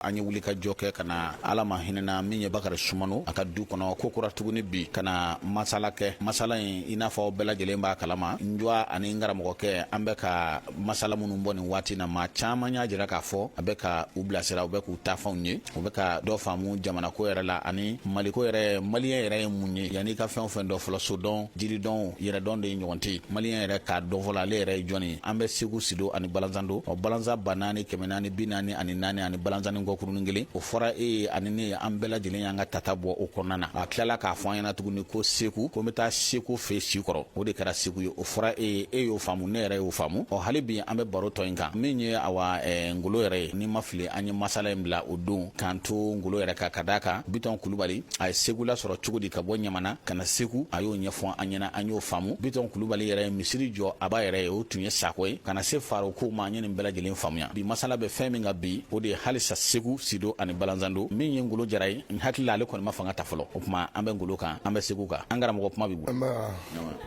an ye wulikajɔ kɛ ka na ala ma hinɛna min ye bakari sumano a ka du kɔnɔ ko kura tuguni bi ka na masala kɛ masala in i n'a fɔ bɛɛ lajɛlen b'a kalama n jɔ ani n karamɔgɔkɛ an bɛ ka masala minnu bɔ nin waati na maa caman y'a jira k'a fɔ a bɛ ka u bilasira u bɛ k'u taafanw ye u bɛ ka dɔ faamu jamanako yɛrɛ la ani maliko yɛrɛ maliyɛn yɛrɛ ye mun ye yan'i ka fɛn o fɛn dɔn fɔlɔ sodɔn jiridɔn yɛrɛdɔn de ye ɲɔgɔn tɛ maliyɛn yɛrɛ k'a dɔn fɔlɔ ale yɛrɛ ye jɔn ye an bɛ segu sido ani balanzando ɔ balanzan ba naani kɛmɛ naani bi naani ani naani ani balanzannin kɔkurunin kelen o fɔra e ye ani ne an bɛɛ lajɛlen y'an ka tata bɔ o kɔnɔna na a tilala k'a fɔ an ɲɛna tuguni ko segu ko n bɛ taa seko fɛ si kɔrɔ o de kɛra segu ye o fɔra e ye e y'o faamu ne yɛrɛ y'o faamu ɔ hali bi an bɛ baro tɔ in kan min ye awa eh, ngolo yɛrɛ ye ni n ma fili an ye masala in bila o don k'an to ngolo yɛrɛ kan ka d'a kan bitɔn kulubali a ye segu lasɔrɔ cogo di ka bɔ ɲamana ka na segu a y'o ɲɛfɔ an ɲɛna an y'o faamu bitɔn kulubali yɛrɛ ye misiri jɔ a ba yɛrɛ ye o tun ye sako ye ka na se faro kow ma an ye nin bɛɛ lajɛlen faamuya bi masala bɛ fɛn min kan bi o de ye halisa segu sido ani balanzando min ye ngolo jara ye n hakili la ale kɔni ma fanga ta fɔlɔ o kuma an bɛ ngolo kan an bɛ segu kan an karamɔgɔ kuma b'i bolo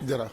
jara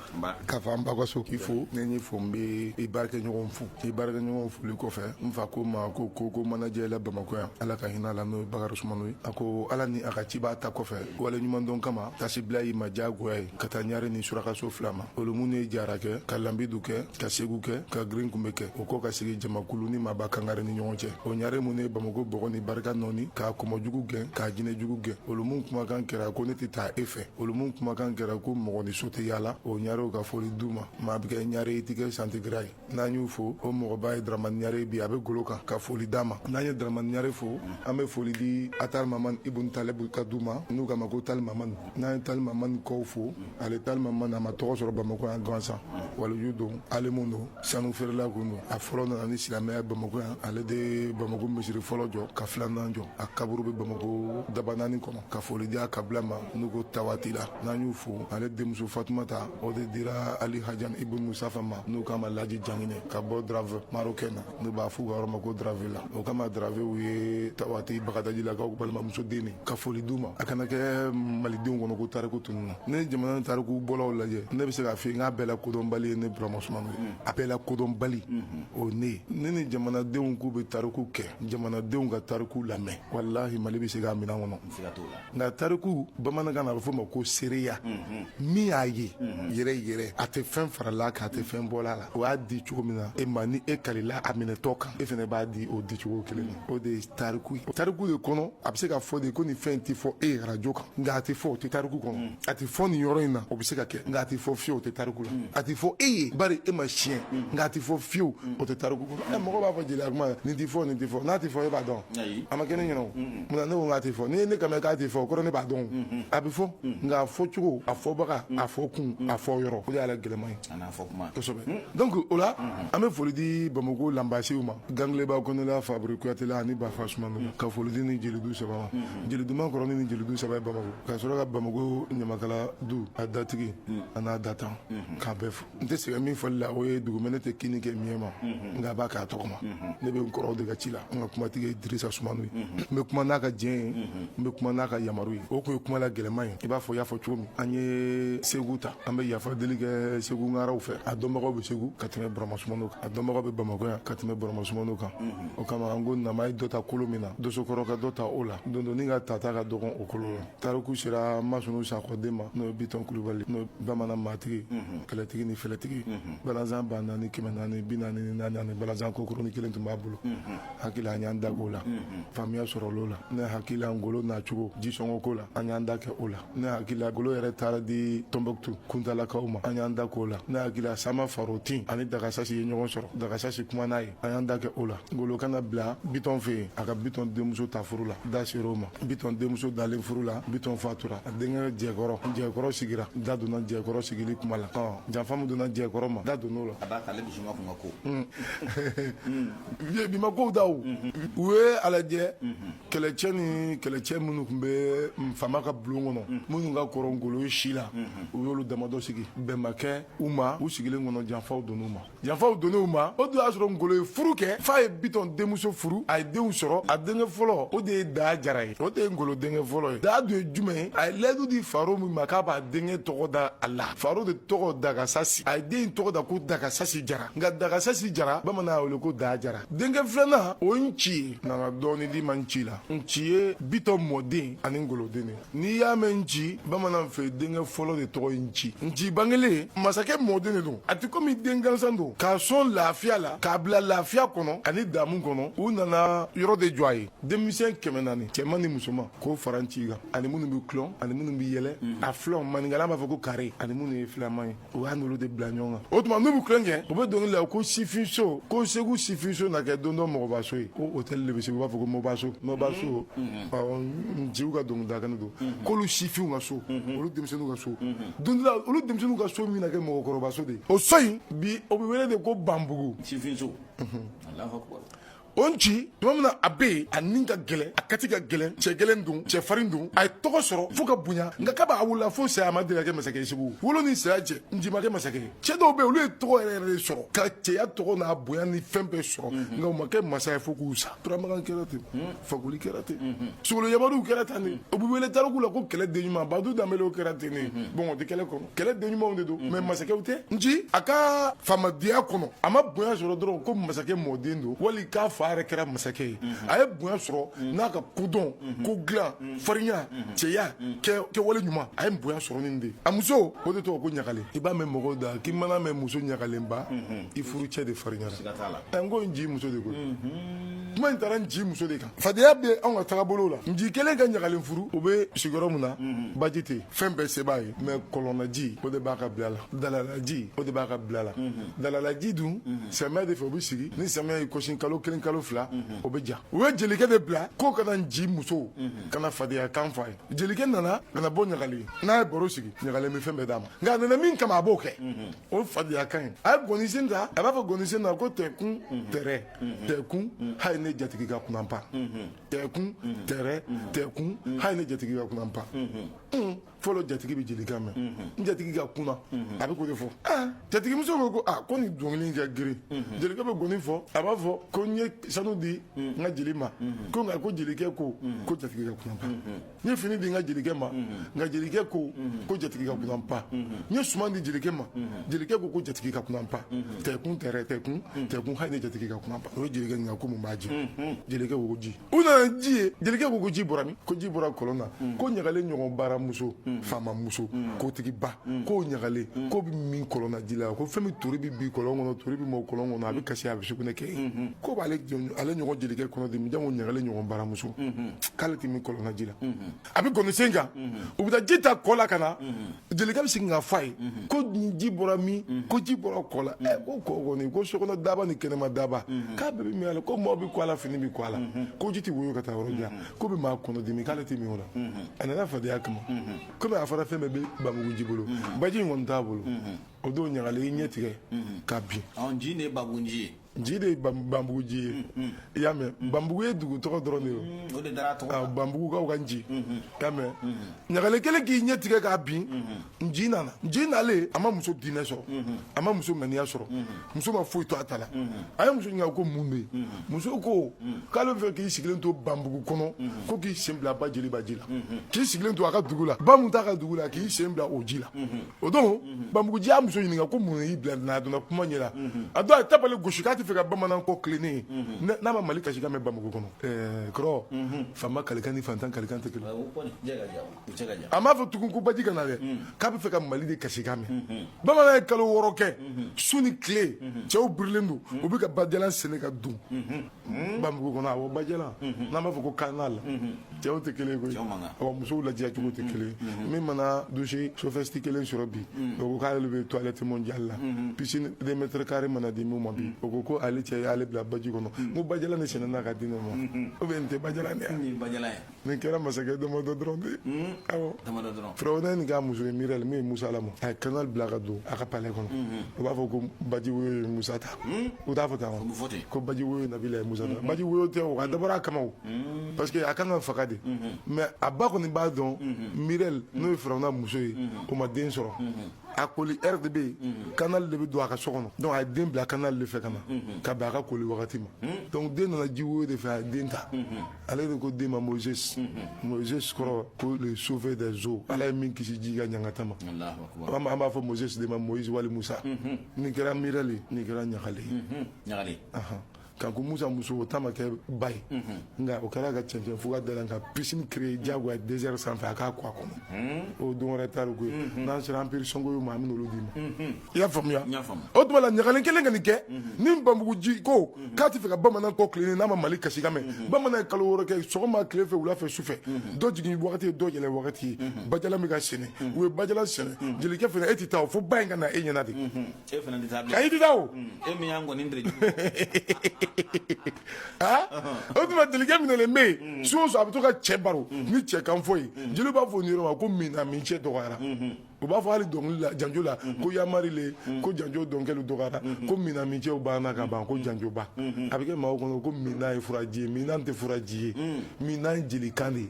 ka fɔ an ba ka so k'i fo ne n'i fo n bɛ i baarakɛɲɔgɔn fo i baarakɛɲɔgɔn foli kɔfɛ n fa ko ma ko ko ko manajɛ la bamakɔ yan ala ka hin'a la n'o ye bakari sumano ye a ko ala ni a ka cibaa ta kɔfɛ waleɲumandɔn kama tasibila y'i ma diyagoya ye ka taa ɲare ni surakaso fila ma olu minnu ye jara kɛ ka lanbidu kɛ ka segu kɛ ka girinkunbɛ kɛ o kɔ ka sigi jamakulu ni maba kangare ni ɲɔgɔn cɛ o ɲare minnu ye bamako bɔgɔ ni barika nɔɔni k'a kɔmɔjugu gɛn k'a jinɛjugu gɛn olu minnu kumakan kɛra ko ne tɛ taa e fɛ olu minnu kumakan kɛra ko mɔgɔ n'i so tɛ yaala o ɲarew ka foli d'u ma maa bɛ kɛ ɲare i tɛ kɛ santigira ye n'an y'u fo o mɔgɔba ye daramani ɲare bi a bɛ golo kan ka foli d'a ma n'an ye daramani ɲare fo an bɛ foli di atari mamani ibun talebu ka du ma n'u k'a ma ko tali mamani n'an ye tali mamani kɔw fo ale tali mamani a ma tɔgɔ sɔrɔ bamakɔ yan gansan waliju don alimu don sanufeerela kun don a fɔlɔ nana ni silamɛya bamako yan ale de bamako misiri fɔlɔ jɔ ka filanan jɔ a kaburu bɛ bamako dabanaani kɔnɔ ka foli di a kabila ma n'u ko tawatila n'an y'u fo ale denmuso fatumata o de dira ali hajan ibun musafa ma n'u k'a ma laji janginɛ ka bɔ drave marokɛn na n'u b'a f'u ka yɔrɔ ma ko dravela o kama dravew ye tawati bagadajilakaw balimamuso den ye ka foli d'u ma a kana kɛ malidenw kɔnɔ ko tariku tununna n'i ye jamana nin tarikubɔlaw lajɛ ne bɛ se k'a fɔ n k'a bɛɛ la kodɔnbali ye ne burama sumano ye a bɛɛ la kodɔnbali o ne ye ne ni jamanadenw k'u bɛ tariku kɛ jamanadenw ka tariku lamɛn walahi mali bɛ se k'a min'a kɔnɔ nka tariku bamanankan na a bɛ f'o ma ko seereya min y'a ye yɛrɛ yɛrɛ a tɛ fɛn faral'a kan a tɛ fɛn bɔl'a la o y'a di cogo min na e ma ni e kalila a minɛtɔ kan e fana b'a di o di cogo kelen o de tariku ye tariku de kɔnɔ a bɛ se ka fɔ de ko nin fɛn tɛ fɔ e ye arajo kan nka a tɛ fɔ o tɛ tariku kɔnɔ mm. a tɛ fɔ nin yɔrɔ in na o bɛ se ka kɛ nka a tɛ fɔ fiyewu o tɛ tariku la mm. a tɛ fɔ e ye bari e ma siɲɛ mm. nka a tɛ fɔ fiyewu o tɛ tariku kɔnɔ ɛ mɔgɔ b'a fɔ jeliya kuma la nin tɛ fɔ nin tɛ fɔ n'a tɛ fɔ e b'a dɔn a ma kɛ ne ɲɛna o munna ne ko k'a tɛ fɔ n'i ye ne kama k'a tɛ fɔ o kɔrɔ ne b'a dɔn a bɛ fɔ nka a fɔ cogo a fɔbaga a fɔ kun a fɔ yɔrɔ o de y'ale gɛlɛman ye donc o la an bɛ foli di bamakɔ lanbasiw ma gangileba kɔnɛla fabiri kuyatela ani bafa sumano ka foli di nin jelidu saba ma jelidu man kɔrɔ nin jelidu saba ye bamakɔ ka sɔrɔ ka bamakɔ ɲamakala du a datigi an'a datan k'a bɛɛ fo n tɛ sɛgɛn min fɔli la o ye dugumɛnɛ tɛ kinni kɛ miɲɛ ma nka a b'a k'a tɔgɔ ma ne bɛ kɔrɔw de ka ci la n ka kumatigi ye dirisa sumano ye n bɛ kuma n'a ka diɲɛ ye n bɛ kuma n'a ka yamaru ye o tun ye kuma la gɛlɛman ye i b'a fɔ y'a fɔ cogo min an ye segu ta an bɛ yafa deli kɛ segu ngaraw fɛ a dɔnbagaw bɛ segu ka tɛmɛ burama sumano kan a dɔnbagaw bɛ bamakɔ yan ka tɛmɛ burama sumano kan o kama an ko nama ye dɔ ta kolo min na dosokɔrɔ ka dɔ ta o la dondonni ka tata ka dɔgɔn o kolo la tariku sera masunu sakɔ den ma n'o ye bitɔn kulubali n'o ye bamanan maatigi kɛlɛtigi ni fɛlɛtigi balanzan ba naani kɛmɛ naani bi naani ni naani ani balanzan kɔkurunin kelen tun b'a bolo hakili la an y'an da k'o la faamuya sɔrɔl'o la ne hakili la ngolo nacogo jisɔngɔ ko la an y'an da kɛ o la ne hakili la ngolo yɛrɛ taara di tɔnbɔkutu kuntalakaw ma an y'an da k'o la ne hakili la sama farotin ani dagasasi ye ɲɔgɔn sɔrɔ dagasasi kuma n'a ye an y'an da kɛ o la ngolo ka na bila bitɔn fɛ yen a ka bitɔn denmuso ta furu la da sera o ma bitɔn denmuso dalen furu la bitɔn fatura a denkɛ jɛkɔrɔ jɛkɔrɔ sigira da donna jɛkɔrɔ sigili kuma la janfa min donna jɛkɔrɔ ma da donna o la bi ma kow da o u ye a lajɛ kɛlɛcɛ ni kɛlɛcɛ minnu tun bɛ faama ka bulon kɔnɔ minnu ka kɔrɔ ngolo ye si la u y'olu damadɔ sigi bɛn ma kɛ u ma u sigilen kɔnɔ janfaw donn'u ma janfaw donn'u ma o dun y'a sɔrɔ ngolo ye furu kɛ f'a ye bitɔn denmuso furu a ye denw sɔrɔ a denkɛ fɔlɔ o de ye daa jara ye o de ye ngolo denkɛ fɔlɔ ye daa dun ye jumɛn ye a ye layidu di faro min ma k'a b'a denkɛ tɔgɔ da a la faro de tɔgɔ dagasasi a ye den tɔgɔ da ko dagasasi jara nka dagasasi jara bamanan y'a wele ko daa jara denkɛ filanan o ye nci ye nana dɔɔni di ma nci la nci ye bitɔn mɔden ani ngolo den de n'i y'a mɛn nci bamanan fɛ denkɛ fɔlɔ de tɔgɔ ye nci nci bangelen masakɛ mɔden de don a tɛ komi den gansan don k'a sɔn lafiya la k'a bila lafiya kɔnɔ ani damu kɔnɔ u nana yɔrɔ de jɔ a ye denmisɛn kɛmɛ naani cɛman ni musoman k'o fara nci kan ani minnu bɛ kulon ani minnu bɛ yɛlɛ a filanw maninkala b'a fɔ ko kare ani minnu ye filaman ye o y'a n'olu de bila ɲɔgɔn kan o tuma n'u bɛ kulon kɛ u bɛ dɔnkili la ko sifinso ko segu sifinso na kɛ don dɔ mɔgɔbaso ye ko hôtel de bɛ segu u b'a fɔ ko mɔbaso mɔbaso nciw ka dɔnkilidakan don k'olu sifinw ka so olu denmisɛnninw ka so don dɔ la olu denmisɛnninw ka so min na kɛ mɔgɔkɔrɔbaso de ye o so in bi o bɛ wele de ko banbugu sifinso Alahu akibaru o nci tuma min na a bɛ yen a ni ka gɛlɛn a kati ka gɛlɛn cɛ gɛlɛn don cɛ farin don a ye tɔgɔ sɔrɔ fo ka bonya nka k'a b'a wolo la fo saya ma deli ka kɛ masakɛ ye segu wolo ni saya cɛ nci ma kɛ masakɛ ye cɛ dɔw bɛ yen olu ye tɔgɔ yɛrɛ yɛrɛ de sɔrɔ ka cɛya tɔgɔ n'a bonya ni fɛn bɛɛ sɔrɔ nka u ma kɛ masa ye fo k'u sa turamagan kɛra ten fakoli kɛra ten sogolo yamariw kɛra ten de u bɛ wele tariku la ko kɛlɛ den ɲuman badu danbelew kɛra ten de bon o tɛ kɛlɛ kɔnɔ kɛlɛ den ɲumanw de don mɛ masakɛw tɛ nci a ka faamadenya kɔnɔ a ma bonya sɔrɔ dɔrɔn ko masakɛ mɔden don wali k'a fa yɛrɛ kɛra masakɛ ye a ye bonya sɔrɔ n'a ka kodɔn ko dilan farinya cɛya kɛwale ɲuman a ye bonya sɔrɔ nin de a muso o de tɔgɔ ko ɲagalen i b'a mɛn mɔgɔw da k'i mana mɛn muso ɲagalenba i furucɛ de farinyara n ko nci muso de ko kuma in taara nci muso de kan fadenya bɛ anw ka tagabolo la nci kɛlen ka ɲagalen furu u bɛ sigi yɔrɔ min na mhm. baji tɛ fɛn bɛɛ se b'a ye mɛ kɔlɔnnaji o de b'a ka bila la dalalaji o de b'a ka bila la mhm. dalalaji dun mhm. samiyɛ de fɛ o bɛ sigi ni samiyɛ ye kɔsin kalo kelen kalo fila o bɛ ja u ye jelikɛ de bila k'o ka na nci muso ka na fadenya kan fɔ a ye jelikɛ nana ka na bɔ ɲagalen na a ye baro sigi ɲagalen bɛ fɛn bɛɛ d'a ma nka a nana min kama a b'o kɛ o fadenya kan ye a ye gɔnisen ta a b'a fɔ gɔnisen na ko tɛkun tɛrɛ tɛkun hali ne jatigi ka kunan pa tɛkun tɛrɛ tɛkun hali ne jatigi ka kunan pa fɔlɔ jatigi bɛ jelikan mɛn n jatigi ka kunan a bɛ k'o de fɔ jatigimuso ko ko aa ko nin dɔnkili ka girin jelikɛ bɛ gɔni fɔ a b'a fɔ ko n ye sanu di n ka jeli ma ko nka ko jelikɛ ko ko jatigi ka kunan pa n ye fini di n ka jelikɛ ma nka jelikɛ ko ko jatigi ka kunan pa n ye suman di jelikɛ ma jelikɛ ko ko jatigi ka kunan pa tɛkun tɛrɛ tɛkun tɛkun hali ne jatigi ka kunan pa o ye jelikɛ ɲininka ko mun b'a jɛ jelikɛ ko ko ji u nana ni ji ye jelikɛ ko ko ji bɔra min ko ji bɔra kɔlɔn na ko ɲagalen ɲɔgɔn baramuso faamamuso kotigiba mm. k'o ɲagalen mm. k'o bɛ min kɔlɔnna ji la ko fɛn min tori bɛ bin kɔlɔn kɔnɔ tori bɛ mɔ kɔlɔn kɔnɔ a bɛ kasi a bɛ sugunɛ kɛ yen mm-hmm. k'o b'ale ale ɲɔgɔn jelikɛ kɔnɔ dimi janko ɲagalen ɲɔgɔn baramuso mm-hmm. k'ale tɛ min kɔlɔnna ji la mm-hmm. a bɛ gɔnisen kan u bɛ taa ji ta kɔ la ka na jelikɛ bɛ segin ka f'a ye ko ji bɔra min ko ji bɔra kɔ la ɛ ko kɔ kɔni ko sokɔnɔ daaba ni kɛnɛma daaba k'a bɛɛ bɛ min a la ko maaw bɛ ko a la fini bɛ ko a la k'o ji tɛ woyo ka taa yɔrɔ jan k'o bɛ maa kɔnɔ dimi k'ale tɛ min o la a nana fadenya kama kɔmi a fɔra fɛn bɛɛ bɛ banbugu nci bolo mhm. baji in kɔni t'a bolo mhm. o don ɲagalen i ɲɛ tigɛ mhm. ka bin nci de ye banbugu nci ye nci de ye banbugu nci ye i y'a mɛn banbugu ye dugu tɔgɔ dɔrɔn de ye ah, banbugukaw ka nci i y'a mɛn ɲagalen kɛlen k'i ɲɛ tigɛ ka bin nci nana nci nalen a ma muso diinɛ sɔrɔ a ma muso ŋaniya sɔrɔ muso ma foyi to a ta la a ye muso ɲininka ko mun bɛ yen muso ko k'ale bɛ fɛ k'i sigilen to banbugu kɔnɔ ko k'i sen bila ba jeliba ji la k'i sigilen to a ka dugu la ba min t'a ka dugu la k'i sen bila o ji la o don banbugu nci y'a muso ɲininka ko mun y'i bila n'a donna kuma ɲɛ la a don a ye tabali gosi k'a tɛ fɛ ka bamanan kɔ tilennen ye n'a- n'a ma mali kasikan mɛn banbugu kɔnɔ ɛɛ kɔrɔ faama kalikan ni fantan kalikan tɛ kelen ye. a m'a fɔ tugun ko baji ka na dɛ mm. k'a bɛ fɛ ka mali de kasikan mɛn mm-hmm. bamanan ye kalo wɔɔrɔ kɛ mm-hmm. su ni tile mm-hmm. cɛw birilen don u bɛ ka bajalan sɛnɛ ka don banbugu kɔnɔ awɔ bajalan n'an b'a fɔ ko canal cɛw tɛ kelen koyi awɔ musow ladiya cogo tɛ kelen min mana douche sophistiquée kelen sɔrɔ bi o ko k'ale bɛ toilette mondiale la piscine deux mètres carrés mana di min ma bi o ko ko ale cɛ y'ale bila baji kɔnɔ n ko bajalan de sɛnɛna ka di ne ma ou bien nin tɛ bajalan de ye nin kɛra masakɛ damadɔ dɔrɔn de ye awɔ damadɔ dɔrɔn firawuna nin k'a muso ye mirɛli min ye musa lamɔ a ye canal bila ka don a ka palais kɔnɔ u b'a fɔ ko baji woyo ye musa ta u t'a fɔ tan wa fɔ ten. ko baji woyo nabila ye musa ta baji woyo tɛ o a dabɔra a kama o parce que a kan ka faga de mais a ba kɔni b'a dɔn mirɛli n'o ye firawuna muso ye o ma den sɔrɔ a koli ɛri de bɛ yen canal de bɛ don a ka so kɔnɔ donc a ye den bila canal de fɛ ka na ka bɛn a ka koli wagati ma donc den nana ji woyo de fɛ a ye den ta ale de ko den ma moses moses kɔrɔ ko le sauvé des eaux ala ye min kisi ji ka ɲangata ma an b'a fɔ moses de ma moise wali musa nin kɛra mirali nin kɛra ɲagale ɲagale kanku musa muso o ta ma kɛ ba ye nka o kɛra ka cɛncɛn fo ka da la ka piscine créer diyagoya désert sanfɛ a k'a ko a kɔnɔ o don wɛrɛ tariku ye n'an sera empire songhoy ma an bɛ n'olu d'i ma i y'a faamuya o tuma la ɲagalen kɛlen ka nin kɛ ni banbugu nci ko k'a tɛ fɛ ka bamanan kɔ tilennen n'a ma mali kasi kan mɛn bamanan ye kalo wɔɔrɔ kɛ sɔgɔma tile fɛ wula fɛ su fɛ dɔ jigin wagati ye dɔ yɛlɛ wagati ye bajala min ka sɛnɛ u ye bajala sɛnɛ jelikɛ fana e tɛ taa o fo ba in ka na e ɲɛ na de e fana tɛ taa bilen ayi tɛ taa o e min y'an kɔni dere aa o tuma jelikɛ minɛlen bɛ yen su o su a bɛ to ka cɛ baro ni cɛ kan fɔ ye jeliw b'a fɔ nin yɔrɔ ma ko mina min cɛ dɔgɔyara u b'a fɔ hali dɔnkili la janjo la ko yamari le ko janjo dɔnkɛlu dɔgɔyara ko mina min cɛw banna ka ban ko janjoba a bɛ kɛ maaw kɔnɔ ko mina ye furaji ye mina tɛ furaji ye mina ye jelikan de ye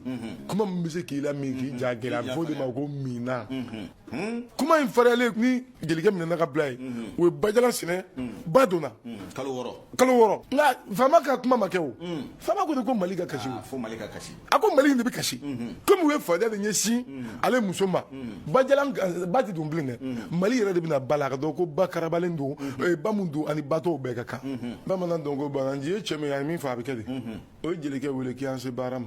kuma min bɛ se k'i lamin k'i ja gɛlɛya a bɛ fɔ o de ma ko mina kuma in fariyalen ni jelikɛ minɛna ka bila yen u ye bajala sɛnɛ ba donna kalo wɔɔrɔ kalo wɔɔrɔ nka faama ka kuma ma kɛ o faama ko de ko mali ka kasi o fo mali ka kasi a ko mali de bɛ kasi komi u ye fadenya de ɲɛsin ale muso ma ba tɛ don bilen dɛ mali yɛrɛ de bɛna ba la ka dɔn ko ba karabalen don ba don ani ba tɔw bɛɛ ka kan bamanan dɔn ko bamananji ye cɛ min ye a ye min fɔ a bɛ kɛ de o ye jelikɛ wele k' an se baara ma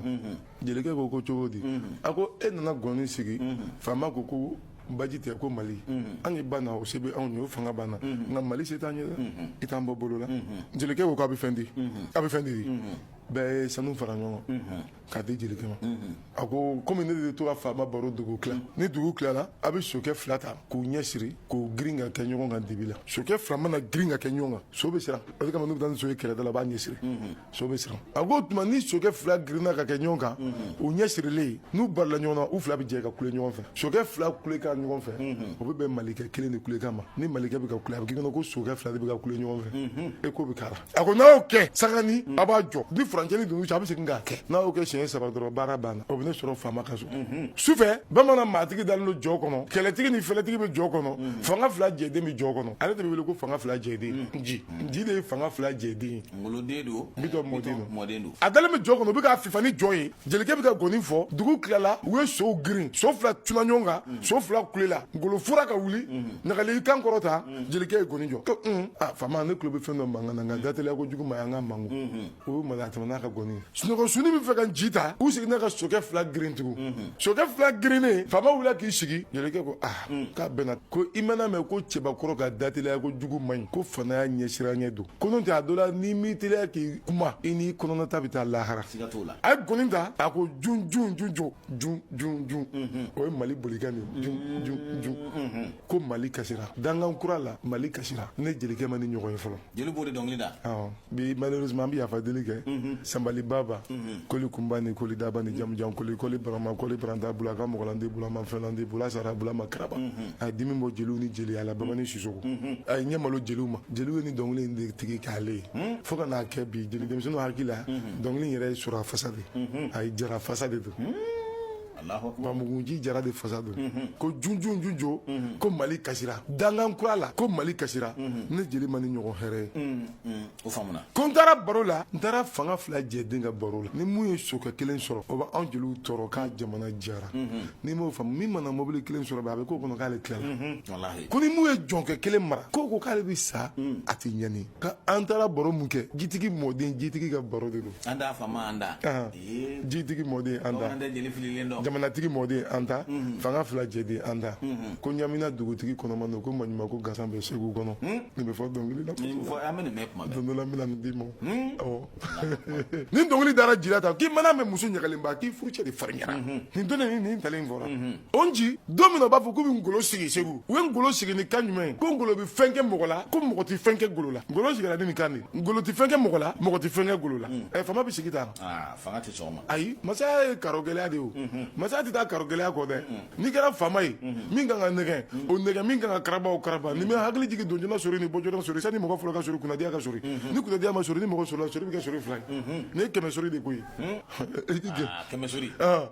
jelikɛ ko ko cogo di a ko e nana gɔni sigi faama ko ko baji tɛ ko mali an ba o se bɛ anw ye fanga b'an na nka mali se t'an ye i t'an bɔ bolo la jelikɛ ko k'a bɛ fɛn di a bɛ fɛn di bɛɛ ye sanu fara ɲɔgɔn kan k'a di jelikɛ ma a ko komi ne de tora faama baro dugu tila ni dugu tilala a bɛ sokɛ fila ta k'u ɲɛ siri k'u girin ka kɛ ɲɔgɔn kan dibi la sokɛ fila mana girin ka kɛ ɲɔgɔn kan so bɛ siran o de kama n'u bɛ taa ni so ye kɛlɛda la a b'a ɲɛ siri so bɛ siran a ko o tuma ni sokɛ fila girinna ka kɛ ɲɔgɔn kan u ɲɛ sirilen n'u barila ɲɔgɔn na u fila bɛ jɛ ka kule ɲɔgɔn fɛ sokɛ fila kulekan ɲɔgɔn fɛ o bɛ bɛn malikɛ kelen de kulekan ma ni malikɛ bɛ ka kule a bɛ k'i kɔnɔ ko sokɛ fila de bɛ ka kule ɲɔgɔn fɛ e ko bɛ k'a la a ko n'a y'o kɛ sangani mm. a b'a jɔ ni furancɛnin donna u cɛ a bɛ segin k'a kɛ n'a y'o kɛ siɲɛ saba dɔrɔn baara banna o bɛ ne sɔrɔ faama ka so mm-hmm. sufɛ bamanan maatigi dalen don jɔ kɔnɔ kɛlɛtigi ni fɛlɛtigi bɛ jɔ kɔnɔ mm-hmm. fanga fila jɛden bɛ jɔ kɔnɔ ale de bɛ wele ko fanga fila jɛden mm-hmm. nji nji de ye fanga fila jɛden ye ngoloden don bitɔn mɔden don a dalen bɛ jɔ kɔnɔ u bɛ k'a fifa ni jɔ ye jelikɛ bɛ ka gɔni fɔ dugu tilala u ye sow girin so fila tuna ɲɔgɔn kan so fila kulela ngolo fura ka wuli ɲagali kan kɔrɔta mm. jelikɛ ye gɔni jɔ ko mm. a ah, faama ne tulo bɛ fɛn dɔ mankan na nka mm. dateliya kojugu man ɲi an ka makun mm-hmm. o ye mali a tɛmɛ n'a ka gɔni ye sunɔgɔ sunni bɛ fɛ ka nji ta u seginna ka sokɛ fila girin tugun mm-hmm. sokɛ fila girinnen faama wulila k'i sigi jelikɛ ko a ah, k'a bɛnna ko i mana mɛn ko cɛbakɔrɔ ka dateliya kojugu man ɲi ko faamaya ɲɛsiranɲɛ don ko n'o tɛ a dɔ la n'i m'i teliya k'i kuma i n'i kɔnɔnata bɛ taa lahara a ye gɔni ta a ko jun jun jun jɔ jun jun jun mm-hmm. o ye mali bolikan de ye jun jun jun ko mali kasira dankan kura la mali kasira ne jelikɛ ma nin ɲɔgɔn ye fɔlɔ jeli b'o de dɔnkili da awɔ bi malheureusement an bɛ yafa deli kɛ mhm. sanbali baba mhm. koli kunba ni koli daba ni jamujan koli koli barama koli baranta bula ka mɔgɔlandi bula ma fɛnlandi bula sara bula ma karaba mhm. a ye dimi bɔ jeliw ni jeliya la babani sisɔkɔ a ye ɲɛ malo jeliw ma jeliw ye nin dɔnkili in de tigi k'ale ye hmm? fo ka n'a kɛ bi jeli denmisɛnninw hakili la dɔnkili in yɛrɛ ye sora fasa de a ye jara fasa de don hmm? Banbugu nji jara de fasa don ko junjun junjo ko mali kasira dankan kura la ko mali kasira ne jeli ma nin ɲɔgɔn hɛrɛ ye ko n taara baro la n taara fanga fila jɛden ka baro la ni min ye sokɛ kelen sɔrɔ o bɛ anw jeliw tɔɔrɔ k'a jamana jara n'i m'o faamu min mana mɔbili kelen sɔrɔ bi a bɛ k'o kɔnɔ k'ale tilala ko ni min ye jɔnkɛ kelen mara k'o ko k'ale bɛ sa a tɛ ɲani nka an taara baro min kɛ jitigi mɔden jitigi ka baro de don jitigi mɔden an ta jamanatigi mɔden an ta fanga fila jɛden an ta ko ɲamina dugutigi kɔnɔma don ko maɲuman ko gasan bɛ segu kɔnɔ nin bɛ fɔ dɔnkili la don dɔ la n bɛna nin d'i ma ni dɔnkili dara jira ta k'i mana mɛn muso ɲagalenba k'i furucɛ de farinyara nin don ni nin ntalen fɔra o nci don min na u b'a fɔ k'u bɛ ngolo sigi segu u ye ngolo sigi ni kan jumɛn ye ko ngolo bɛ fɛn kɛ mɔgɔ la ko mɔgɔ tɛ fɛn kɛ ngolo la ngolo sigira ni nin kan de ye ngolo tɛ fɛn kɛ mɔgɔ la mɔgɔ tɛ fɛn kɛ ngolo la ɛ faama bɛ sigi tan aa fanga tɛ sɔn o ma ayi masaya ye karo gɛlɛya de ye o masaya tɛ taa karo gɛlɛya kɔ dɛ n'i kɛra faama ye min kan ka nɛgɛn o nɛgɛn min kan ka karaba o karaba ni min hakili jigin donjoona sori ni bɔjoona sori sani mɔgɔ fɔlɔ ka sori kunnadiya ka sori ni kunnadiya ma sori ni mɔgɔ sorila sori bɛ kɛ sori fila ye nin ye kɛmɛ sori de ko ye i ti jɛ aa kɛmɛ sori Ah.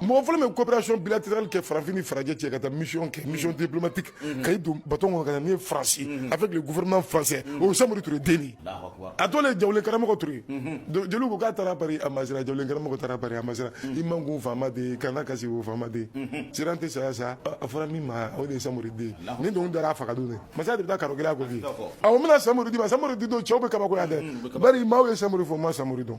mɔgɔ fɔlɔ min coopération bilatérale kɛ farafin ni farajɛ cɛ ka taa mission kɛ mission diplomatique ka i don batɔn kɔnɔ ka na ni faransi avec le gouvernement français o ye samori ture den ye a tɔ le jawulen karamɔgɔ ture jeliw ko k'a taara pari a ma siran jawulen karamɔgɔ taara pari a ma siran i makun faama den kana kasi o faama den siran tɛ saya sa a fɔra min ma o de ye samori den ye nin dɔnkili dara a faga don dɛ masaya de bɛ taa karo gɛlɛya ko f'i ye awɔ n bɛna samori d'i ma samori di don cɛw bɛ kabakoya dɛ bari maaw ye samori fɔ u ma samori dɔn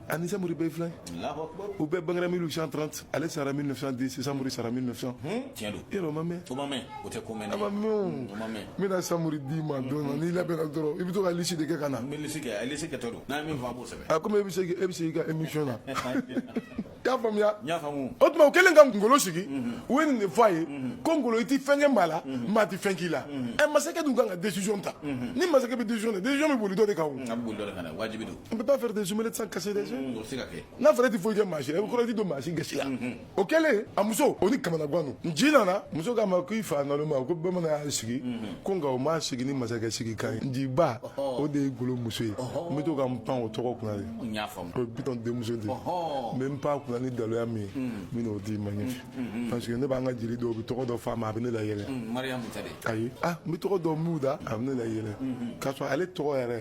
ani samori bɛɛ filɛ u bɛɛ bangera 1830 ale sara 1910 samori sara 1900 tiɲɛ don yɛrɛ o ma mɛn o ma mɛn o tɛ ko mɛn a ma mɛn o n bɛna samori d'i ma don na n'i labɛnna dɔrɔn i bɛ to ka lisi de kɛ ka na n bɛ lisi kɛ a lisi kɛtɔ don n'a ye min fɔ a b'o sɛbɛn a komi e bɛ se e bɛ se i ka émission na i y'a faamuya n y'a faamu o tuma u kɛlen ka ngolo sigi u ye nin de fɔ a ye ko ngolo i tɛ fɛn kɛ maa la maa tɛ fɛn k'i la ɛ masakɛ dun kan ka décision ta ni masakɛ bɛ décision ta décision bɛ boli dɔ de kan o a bɛ boli dɔ de kan dɛ wajibi don on peut pas faire des omelettes sans casser des œufs n'a fɔra e tɛ foyi kɛ maa si la e bɛ kɔrɔ i ti don maa si gasi la o kɛlen a muso o ni kamanagan don nci nana muso k'a ma ko i fa naloma ko bamanan y'a sigi ko nka o m'a sigi ni masakɛ sigi kan ye nci ba o de ye ngolo muso ye n bɛ to ka n pan o tɔgɔ kunna de o ye bitɔn denmuso de ye n bɛ n pan kunna ni daluya min ye n bɛna o d'i ma ɲɛfɛ parce que ne b'an ka jeli dɔw bɛ tɔgɔ dɔ f'a ma a bɛ ne layɛlɛ ayi ah n bɛ tɔgɔ dɔ m'u da a bɛ ne layɛlɛ k'a sɔrɔ ale tɔgɔ yɛrɛ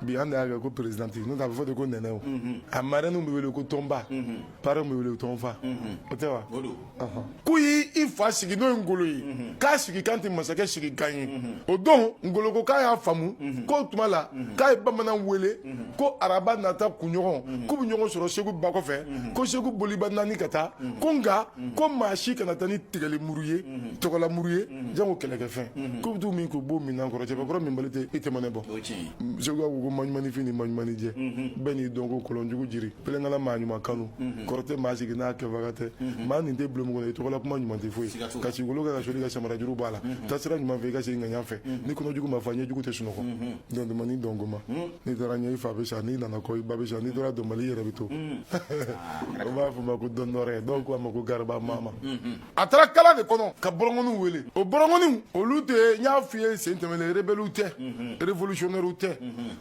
bi an de y'a kɛ ko présidente n'o tɛ a bɛ fɔ de ko nɛnɛ o a marraine bɛ wele ko tɔnba parrain bɛ wele tɔnfa o tɛ wa k'u y'i fa sigi n'o ye ngolo ye k'a sigi kan tɛ masakɛ sigi kan ye o don ngolo ko k'a y'a faamu k'o tuma la k'a ye bamanan wele ko araba nata kunɲɔgɔn k'u bɛ ɲɔgɔn sɔrɔ segu ba kɔfɛ ko segu boliba naani ka taa ko nka ko maa si kana taa ni tigɛli muru ye tɔgɔla muru ye jango kɛlɛkɛfɛn k'u bɛ t'u min k'u b'o minan kɔrɔ cɛbakɔrɔ minbali tɛ i tɛmɛnɛ bɔ segu ka ko maɲumanifin ni maɲumanijɛ bɛɛ n'i dɔnko kɔlɔnjugu jiri pelenkala maa ɲuman kanu kɔrɔ tɛ maa sigi n'a kɛbaga tɛ maa nin tɛ bulon kɔnɔ i tɔgɔla kuma ɲuman tɛ foyi ka sigikolo kɛ ka soli ka samarajuru b'a la taasira ɲuman fɛ i ka segin ŋaɲa fɛ ni kɔnɔjugu ma fa ɲɛjugu tɛ sunɔgɔ Dɔn duman ni dɔn goman unh n'i taara ɲɛ i fa bɛ sa n'i nana kɔ i ba bɛ sa n'i tora dɔnbali i yɛrɛ bɛ to unh aa u b'a f'u ma ko dɔndɔrɛ dɔw ko a ma ko gariba mama unhun a taara kala de kɔnɔ ka bɔrɔngɔniw wele o bɔrɔngɔniw olu tɛ n y'a f'i ye sen tɛmɛlen rebelles tɛ révolutionnaires tɛ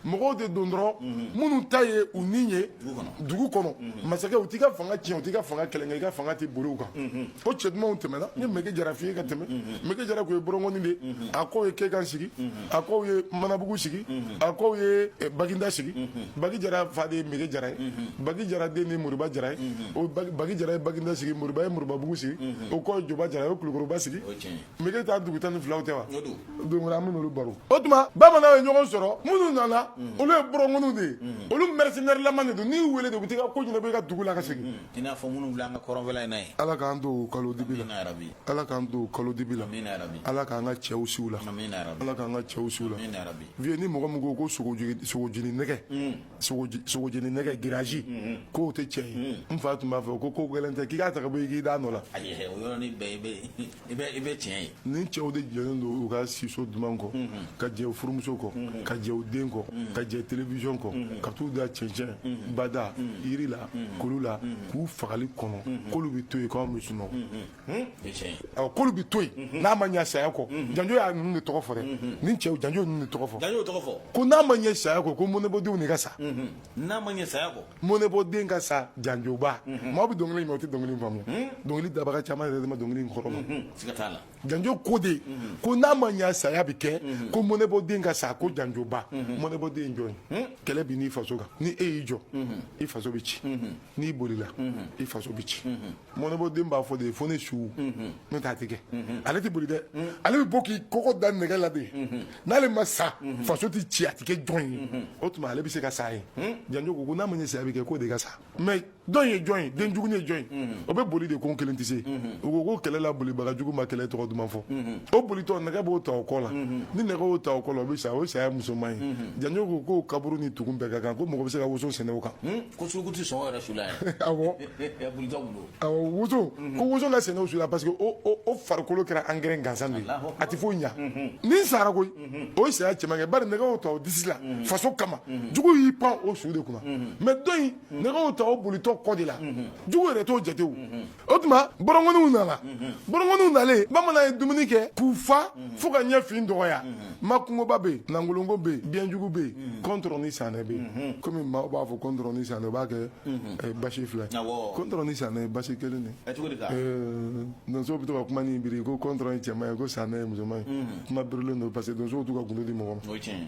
mɔgɔw de don dɔrɔn minnu ta ye u ni ye dugu kɔnɔ masakɛ u t'i ka fanga tiɲɛ u t'i ka fanga kɛlɛ i ka fanga tɛ boli u kan o cɛ dumanw tɛmɛna n ye meke jara f'i ye ka tɛmɛ meke jara kun ye bɔrɔngɔni de ye a kɔ ye kekan sigi a kɔw ye manabugu sigi a kɔw ye eh, baginda sigi bagi jara fa de ye mege jara ye bagi jara den de ye moriba jara ye o Bagi- bagi jara ye baginda sigi moriba ye moribabugu sigi o kɔ ye joba jara ye o kulukɔrɔba sigi o ye tiɲɛ ye megetan dugu tan ni filaw tɛ wa o don don wɛrɛ an bɛ n'olu baro o tuma bamananw ye ɲɔgɔn sɔrɔ minnu nana olu ye bɔrɔnkɔniw de ye olu mercenaire lama de don n'i y'u wele de u bɛ t'i ka ko ɲɛnabɔ i ka dugu la ka segin i n'a fɔ minnu an ka kɔrɔnfɛla in na ye ala k'an to kalo dibi la ala k'an to kalo dibi la ala k'an ka cɛw siw la ala k'an ka cɛw siw la vieux ni mɔgɔ min ko ko sogojeni nɛgɛ mm. sogojeni nɛgɛ giraji mm-hmm. k'o tɛ cɛ ye mm. n fa tun b'a fɔ ko ko gɛlɛn tɛ k'i k'a ta ka bɔ i k'i d'a nɔ la i bɛ i bɛ tiɲɛ ye ni cɛw de jɛlen don u ka siso duman kɔ ka jɛ u furumuso kɔ ka jɛ u den kɔ ka jɛ télévision kɔ ka t'u da cɛncɛn bada yiri la kulu la k'u fagali kɔnɔ k'olu bɛ to yen k'anw bɛ sunɔgɔ o ye tiɲɛ ye awɔ k'olu bɛ to yen n'a ma ɲɛ saya kɔ janjo y'a ninnu de tɔgɔ fɔ dɛ ni cɛw janjo ninnu de tɔgɔ fɔ dan y'o tɔgɔ fɔ ko n'a ma ɲɛ saya kɔ ko mɔnɛbɔdenw de ka sa n'a ma ɲɛ saya kɔ mɔnɛbɔden ka sa janjoba maa bɛ dɔnkili mɛn o tɛ dɔnkili faamuya dɔnkili dabaga caman yɛrɛ de ma dɔnkili in kɔrɔ mɛn janjo ko de ko n'a ma ɲa saya bɛ kɛ ko mɔnɛbɔden ka sa ko janjoba mɔnɛbɔden jɔn ye kɛlɛ bɛ n'i faso kan ni e y'i jɔ i faso bɛ ci n'i bolila i faso bɛ ci mɔnɛbɔden b'a fɔ de fo ne su n'o t'a tɛ kɛ ale tɛ boli dɛ ale bɛ bɔ k'i kɔgɔ da nɛgɛ la de n'ale ma sa faso tɛ ci a tɛ kɛ jɔn ye o tuma ale bɛ se ka sa ye janjo ko ko n'a ma ɲɛ saya bɛ kɛ k'o de ka sa mais dɔ in ye jɔn ye den jugu ye jɔn ye o bɛ boli de ko n kelen tɛ se o ko ko kɛlɛ la bolibaga jugu ma kɛlɛ tɔgɔ duman fɔ o bolitɔ nɛgɛ b'o ta o kɔ la ni nɛgɛ y'o ta o kɔ la o bɛ sa o ye saya musoman ye janjo ko k'o kaburu ni tugun bɛɛ ka kan ko mɔgɔ bɛ se ka woso sɛnɛ o kan ko suruku tɛ sɔn yɛrɛ su la yɛrɛ awɔ buruja bolo awɔ woso ko woso ka sɛnɛ o su la parce que o o o farikolo kɛra angɛrɛ gansan de ye Alahu a tɛ foyi ɲa nin sara koyi o ye saya cɛman kɛ bari nɛgɛ y'o ta o disi la faso kama jugu y'i pan o su de kunna mais dɔ in nɛgɛ y'o ta o bolitɔ kɔ de la jugu yɛrɛ t'o jate o o tuma bɔrɔnkɔniw nana bɔrɔnkɔniw nalen bamanan ye dumuni kɛ k'u fa fo ka ɲɛfin dɔgɔya makungoba bɛ yen nangoloko bɛ yen biɲɛjugu bɛ yen kɔntɔrɔ ni sanɛ bɛ yen komi maaw b'a fɔ kɔntɔrɔ ni sanɛ o b'a kɛ eh, basi fila ye Awɔ. kɔntɔrɔ ni sanɛ ye basi kelen de Ɛ, cogo di ka Eh, donsow bɛ to ka kuma nin biri ko kɔntɔrɔ ye cɛman ye ko sanɛ ye musoman ye kuma birilen don parce que donsow t'u ka gundo di mɔgɔ ma o ye tiɲɛ ye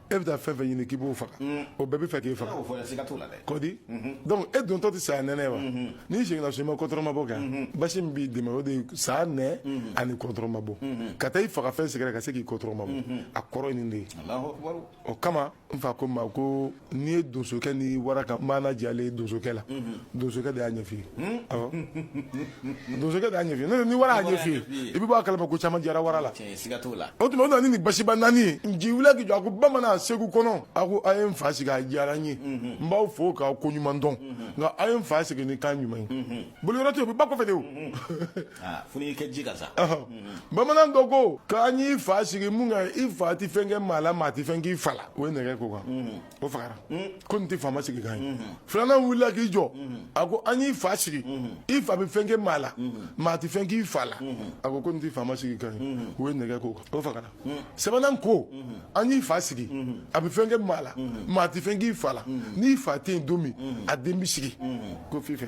e bɛ taa fɛn fɛn ɲini k'i b'o faga o bɛɛ bɛ fɛ k'i faga kɔdi donc e dontɔ tɛ saya nɛnɛ wa n'i seginna so i ma kɔtɔrɔmabɔ kɛ basi min b'i dɛmɛ o de ye saya nɛ ani kɔtɔrɔmabɔ ka taa i faga fɛn sɛgɛrɛ ka se k'i kɔtɔrɔmabɔ a kɔrɔ ye nin de ye o kama n fa ko n ma ko n'i ye donsokɛ ni wara ka maana jalen ye donsokɛ la donsokɛ de y'a ɲɛf'i ye awɔ donsokɛ de y'a ɲɛf'i ye n'o tɛ ni wara y'a ɲɛf'i ye i bɛ bɔ a kalama ko caman jara wara la siga t'o la o tuma o na ni nin basiba naani ye nci wulila k'i jɔ a ko bamanan segu kɔnɔ a ko a ye n fa sigi a diyara n ye n b'aw fo k'aw ko ɲuman dɔn nka a ye n fa sigi ni kan ɲuman ye boliyɔrɔ tɛ yen o bɛ ba kɔfɛ de o aa fo n'i kɛ ji ka sa Ɔhɔ. bamanan dɔ ko k'an y'i fa sigi mun kan i fa tɛ fɛn kɛ maa la maa tɛ fɛn k'i fa la o ye nɛgɛ k'o kan o fagara ko nin tɛ faama sigi kan ye filanan wulila k'i jɔ a ko an y'i fa sigi i fa bɛ fɛn kɛ maa la maa tɛ fɛn k'i fa la a ko ko nin tɛ faama sigi kan ye o ye nɛgɛ k'o kan o fagara sabanan ko an y'i fa sigi a bɛ fɛn kɛ maa la maa tɛ fɛn k'i fa la n'i fa tɛ yen don min a den bɛ sigi ko f'i fɛ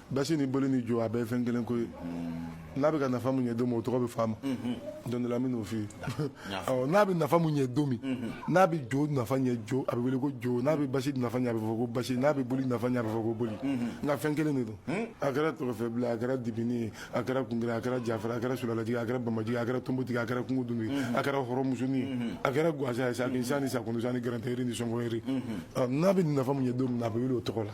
basi ni boli ni jo a bɛɛ fɛn kelen ko ye n'a bɛ ka nafa mun ɲɛ don min o tɔgɔ bɛ f'a ma don dɔ la n bɛn'o f'i ye awɔ n'a bɛ nafa mun ɲɛ don min n'a bɛ jo nafa ɲɛ jo a bɛ wele ko jo n'a bɛ basi nafa ɲɛ a bɛ fɔ ko basi n'a bɛ boli nafa ɲɛ a bɛ fɔ ko boli nka fɛn kelen de don a kɛra tɔgɔfɛbila a kɛra dibini ye a kɛra kungera a kɛra jafara a kɛra sulalajigi a kɛra bamajigi a kɛra tombotigi a kɛra kungudumi ye a kɛra hɔrɔnmusoni ye a kɛra gansan ye sa ni sa ni sakundisa ni garantigɛri ni sɔngɔyiri n'a bɛ nafa mun ɲɛ don min na a bɛ wele o tɔgɔ la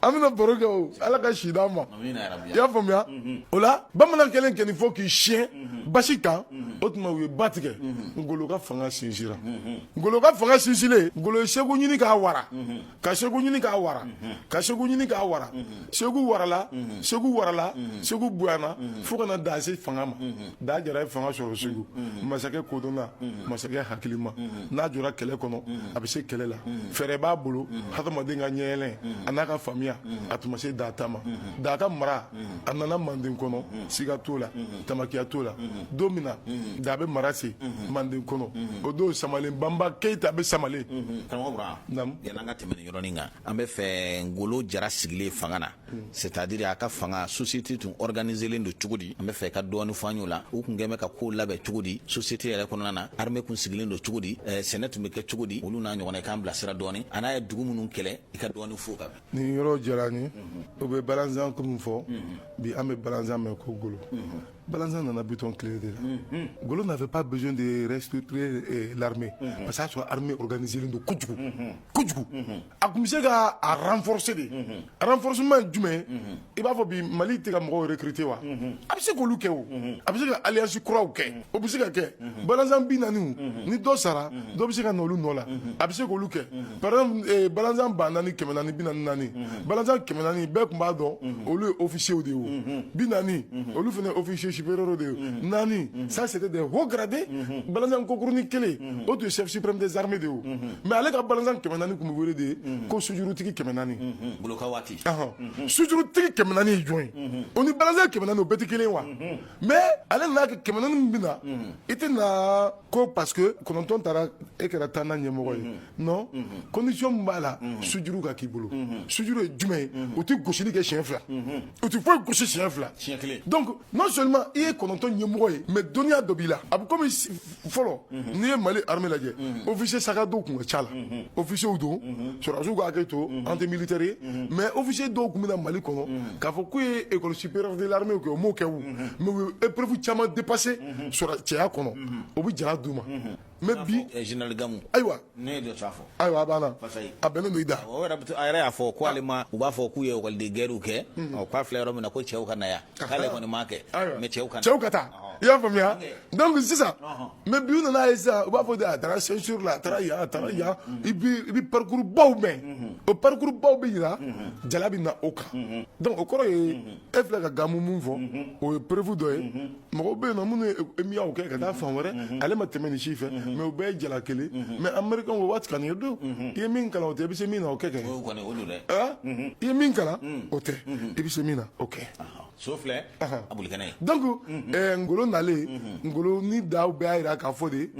an bɛna baro kɛ o ala ka si d'an ma i y'a faamuya o la bamanan kɛlen kɛ nin fɔ k'i siyɛn basi kan o tuma u ye ba tigɛ ngolo ka fanga sinsira ngolo ka fanga sinsilen ngolo ye segu ɲini k'a wara ka segu ɲini k'a wara ka segu ɲini k'a wara segu warala segu warala segu bonyana fo ka na da se fanga ma Da jara ye fanga sɔrɔ segu masakɛ kodɔnna masakɛ hakilima n'a jɔra kɛlɛ kɔnɔ a bɛ se kɛlɛ la fɛɛrɛ b'a bolo hadamaden ka ɲɛyɛlɛn a n'a ka faamuya a tun ma se da ta ma da ka mara a nana manden kɔnɔ siga t'o la tamakiya t'o la don min na da bɛ mara se manden kɔnɔ o don samalen banba keyita bɛ samalen karamɔgɔ bura yan an ka tɛmɛ nin yɔrɔnin kan an bɛ fɛ ngolo jara sigilen fanga na C'est-à-dire a ka fanga société tun organiselen don cogo di an bɛ fɛ i ka dɔɔni fɔ an y'o la u tun kɛlen bɛ ka ko labɛn cogo di société yɛrɛ kɔnɔna na armée tun sigilen don cogo di sɛnɛ tun bɛ kɛ cogo di olu n'a ɲɔgɔnna i k'an bilasira dɔɔni a n'a ye dugu minnu kɛlɛ i ka dɔɔni fɔ o kan nin yɔrɔ diyara n ye o bɛ balanzan ko min fɔ bi an bɛ balanzan mɛn ko ngolo Balanzan nana bitɔn tile de la golo nafɛ pa bɛ de reurure la pa y'a sɔrɔ hame organiz don kojugu kojugu a tun bɛ se ka fsi de fsima jumɛn i b'a fɔ bi mali tɛ ka mɔgɔw yɛrɛ kite wa a bɛ se k olu kɛ a bɛ se ka alisi kuraw kɛ o bɛ se ka kɛ Mhm. balanzan bi naaniw mhm. ni dɔ sara mhm. dɔ bɛ se ka na olu nɔ la a bɛ se k'olu kɛ par exemple eh, balanzan ba naani kɛmɛ naani bi naani naani balanzan kɛmɛ naani bɛɛ tun b'a dɔn olu ye officiers de ye o bi naani olu fana officiers supérieurs de ye naani ça c'était des hauts gradés balanzan kokurunin kelen o tun ye chef suprême des armées de ye o mais ale ka balanzan kɛmɛ naani tun bɛ wele de ko sujurutigi kɛmɛ naani ngolo ka waati sujurutigi kɛmɛ naani ye jɔn ye o ni balanzan kɛmɛ naani o bɛɛ tɛ kelen ye wa mais ale nana kɛ kɛmɛ naani min bɛ na i tɛ na ko parce que kɔnɔntɔn taara e kɛra tan na ɲɛmɔgɔ ye non condition min b'a la sujuru ka k'i bolo sujuru ye jumɛn ye u tɛ gosili kɛ siɲɛ fila u tɛ foyi gosi siɲɛ fila siɲɛ kelen donc non seulement i ye kɔnɔntɔn ɲɛmɔgɔ ye mais dɔnniya dɔ b'i la a bɛ komi fɔlɔ n'i ye mali armée lajɛ officier sac à dos tun ka ca la officiers don sɔrɔdasiw ka hakɛ to an tɛ militaire ye mais officier dɔw tun bɛ na mali kɔnɔ k'a fɔ k'u ye école supérieure de l'armée kɛ u m'o kɛ o mais u ye épreuve caman dépasser sɔrɔdasiya kɔnɔ o bɛ jala d'u ma mais bi général gamu ayiwa Ne ye dɔ ta fɔ ayiwa a banna a bɛnnen don i da o a yɛrɛ y'a fɔ ko ale ma u b'a fɔ k'u ye école de guerre kɛ k'a filɛ yɔrɔ min na ko cɛw ka na yan k'ale kɔni m'a kɛ mais cɛw ka cɛw ka taa i y'a faamuya donc sisan mais bi nana ye sisan u b'a fɔ a taara Saint-Cyr la a taara yan a taara yan i bɛ parcours baw mɛn o parcours baw bɛ jira jala bɛ na o kan donc o kɔrɔ ye e filɛ ka gamu min fɔ o ye preuve dɔ ye mɔgɔw bɛ yen na minnu ye EMIA kɛ ka taa fan wɛrɛ ale ma tɛmɛ nin si fɛ mais u bɛɛ ye jala kelen mais américain o waati kan ye don i ye min kalan o tɛ i bɛ se min na o kɛ kɛ i ye min kalan o tɛ i bɛ se min na o kɛ so filɛ a boli kɛnɛ ye donc ngolo nalen ngolo ni da bɛɛ y'a jira k'a fɔ de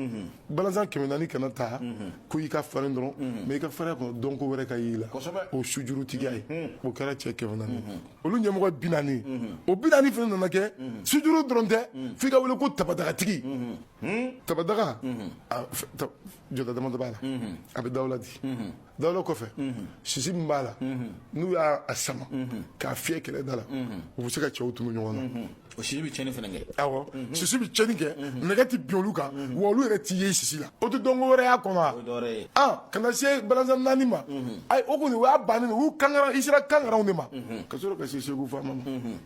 balanzan kɛmɛ naani kana taa ko i ka farin dɔrɔn mais i ka farinya kɔnɔ dɔnko wɛrɛ ka y'i la o sujurutigiya ye o kɛra cɛ kɛmɛ naani olu ɲɛmɔgɔ bi naani o bi naani fana nana kɛ sujuru dɔrɔn tɛ f'i ka wele ko tabadagatigi tabadaga jɔda damadɔ b'a la a bɛ dawula di dawula kɔfɛ sisi min b'a la n'u y'a sama k'a fiyɛ kɛlɛ da la u bɛ se ka cɛw tunu ɲɔgɔn na o sisi bɛ tiɲɛni fana kɛ awɔ sisi bɛ tiɲɛni kɛ nɛgɛ tɛ bin olu kan wa olu yɛrɛ t'i ye sisi la o tɛ dɔnko wɛrɛ y'a kɔnɔ wa o ye dɔwɛrɛ ye ah ka na se balanzan naani ma ayi o kɔni o y'a bannen ye u y'u kankara i sera kankaranw de ma ka sɔrɔ ka se segu faama ma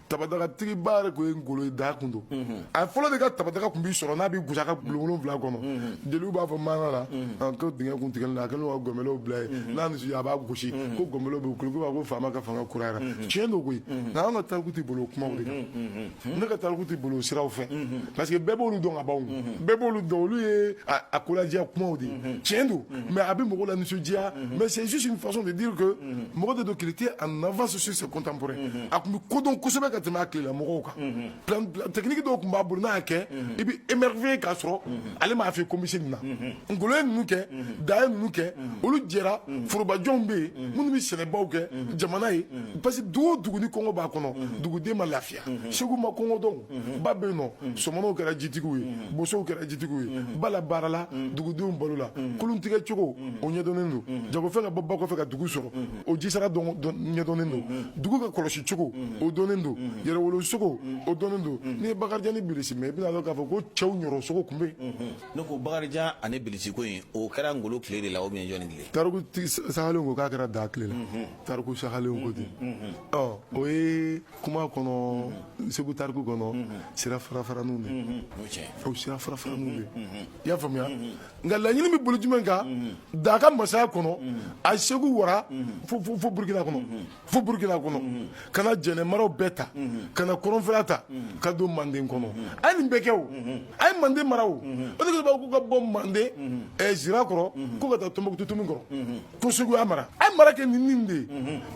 tabadagatigi-ba yɛrɛ tun ye ngolo ye da kun don a ye fɔlɔ de ka tabadaga kun bɛ sɔrɔ n'a bɛ gosi a ka bulon wolonwula kɔnɔ jeliw b'a fɔ maana la an ko dingɛ kun tigɛlen a kɛlen don ka gɔnbɛlɛw bila yen n'a nisɔndiya a b'a gosi ko gɔnbɛlɛw bɛ wuli ko ko faama ka fanga kurayara mm. tiɲɛ don koyi mm-hmm. nka an ka tariku tɛ boli o kumaw de kan mm-hmm. Mm-hmm. ne ka tariku tɛ boli o siraw fɛ parce que bɛɛ b'olu dɔn ka ban bɛɛ b'olu dɔn olu ye a koladiya kumaw de ye tiɲɛ don mais a bɛ mɔgɔw lanisɔndiya mais c'est juste une façon de dire que mɔgɔ de don qu'il était en avance sur ses contemporains a tun bɛ kodɔn kosɛbɛ ka tɛmɛ a tilela mɔgɔw kan tɛkiniki dɔw tun b'a bolo n'a kɛ i bɛ émerveiller ka sɔrɔ ale ma fɛn kɔmanse nin na ngolo ye ninnu kɛ da ye ninnu kɛ olu jɛra forobajɔnw bɛ yen minnu bɛ sɛnɛbaw kɛ jamana ye parce que dugu o dugu ni kɔngɔ b'a kɔnɔ duguden ma lafiya segu ma kɔngɔ dɔn ba bɛ yen nɔ sɔmɔnɔw kɛra jitigiw ye bosow kɛra jitigiw ye ba la baara la dugudenw balo la kolon tigɛ cogo o ɲɛdɔnnen don jagofɛn ka bɔ ba kɔfɛ ka dugu sɔrɔ o jisira ɲɛdɔnnen don dugu ka kɔlɔsi cogo o dɔnnen don yɛrɛwolo sogo o dɔnnen don n'i ye bakarijan ni bilisi mɛn i bɛna dɔn k'a fɔ ko cɛw ɲɔrɔ sogo tun bɛ yen ne ko bakarijan ani bilisi ko in o kɛra ngolo tile de la ou bien jɔni tile tariku sahalenw ko k'a kɛra da tile la tariku sahalenw ko ten ɔ o ye kuma kɔnɔ segu tariku kɔnɔ sira farafaraniw de o sira farafaraniw de i y'a faamuya nka laɲini bɛ bolo jumɛn kan da ka masaya kɔnɔ a segu wara fo burukina kɔnɔ fo burukina kɔnɔ ka na jɛnɛ maraw bɛɛ ta ka na kɔrɔnfɛla ta ka don manden kɔnɔ a ye nin bɛɛ kɛ o a ye manden mara o o de b'a ko ka bɔ manden zira kɔrɔ ko ka taa tɔnbɔkutu tomi kɔrɔ ko segu y'a mara a ye mara kɛ ni nin de ye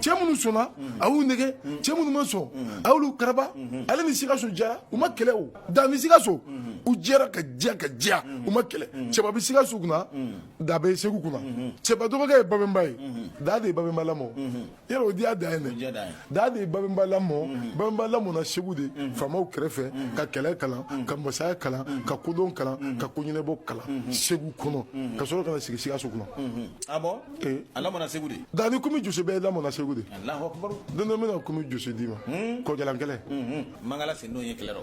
cɛ minnu sɔnna a y'u nɛgɛ cɛ minnu ma sɔn a y'olu karaba ale ni sikaso jara u ma kɛlɛ o da ni sikaso u jɛra ka diya ka diya u ma kɛlɛ cɛba bɛ sikaso kunna da bɛ segu kunna cɛba dɔgɔkɛ ye babɛnba ye da de ye babɛnba lamɔ yɛrɛ o diya da ye dɛ da de ye babɛnba lamɔ mhm. babɛnba lamɔna segu de mhm. faamaw kɛrɛfɛ mhm. ka kɛlɛ kalan ka masaya kalan ka kodɔn kalan ka koɲɛnɛbɔ kalan segu kɔnɔ ka sɔrɔ ka na sigi sikaso kunna ah eh. a lamɔna segu de da ni komi jose bɛɛ lamɔna segu de don dɔ bɛna komi jose d'i ma hmm? kɔjalan kɛlɛ mangala sendon ye kɛlɛ rɔ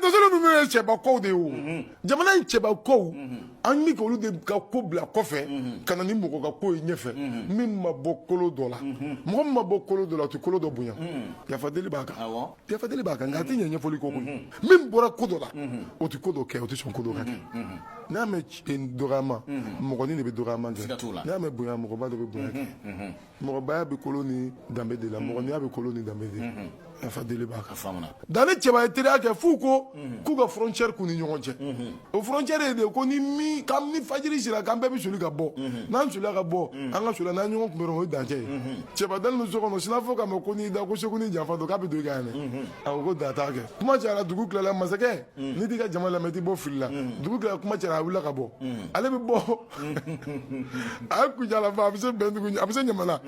dosolo ninnu ye cɛba kow de ye o jamana in cɛba kow an bɛ k'olu de ka ko bila kɔfɛ ka na ni mɔgɔ ka ko ye ɲɛfɛ min ma bɔ kolo dɔ la mɔgɔ min ma bɔ kolo dɔ la a tɛ kolo dɔ bonya yafa deli b'a kan yafa deli b'a kan nka a tɛ ɲɛ ɲɛfɔli kɔ min bɔra ko dɔ la o tɛ ko dɔ kɛ o tɛ sɔn ko dɔ ka kɛ n'a mɛn dɔgɔyama mɔgɔnin de bɛ dɔgɔyama kɛ siga t'o la n'a mɛn bonya mɔgɔba de bɛ bonya kɛ mɔgɔbaya bɛ kolo ni danbe de la mm-hmm. mɔgɔninya bɛ kolo ni danbe de la mm-hmm. yafa deli b'a kan da ni cɛba ye teriya kɛ f'u ko mm-hmm. k'u ka frontière k'u ni ɲɔgɔn cɛ o frontière ye de ko ni min ka ni fajiri sera k'an bɛɛ bɛ soli ka bɔ n'an solila ka bɔ an ka soli n'an ɲɔgɔn kunbɛn o ye dancɛ ye cɛba dalen don so kɔnɔ sinna fɔ k'a ma ko n'i da ko segu ni janfa don k'a bɛ don i kan yan dɛ a ko ko da t'a kɛ kuma cayara dugu tilala masakɛ n'i t'i ka jama lamɛn i t'i bɔ fili la dugu tilala kuma cayara a wulila ka bɔ ale bɛ bɔ a ye kucala ban a bɛ se bɛndugu a bɛ se ɲamana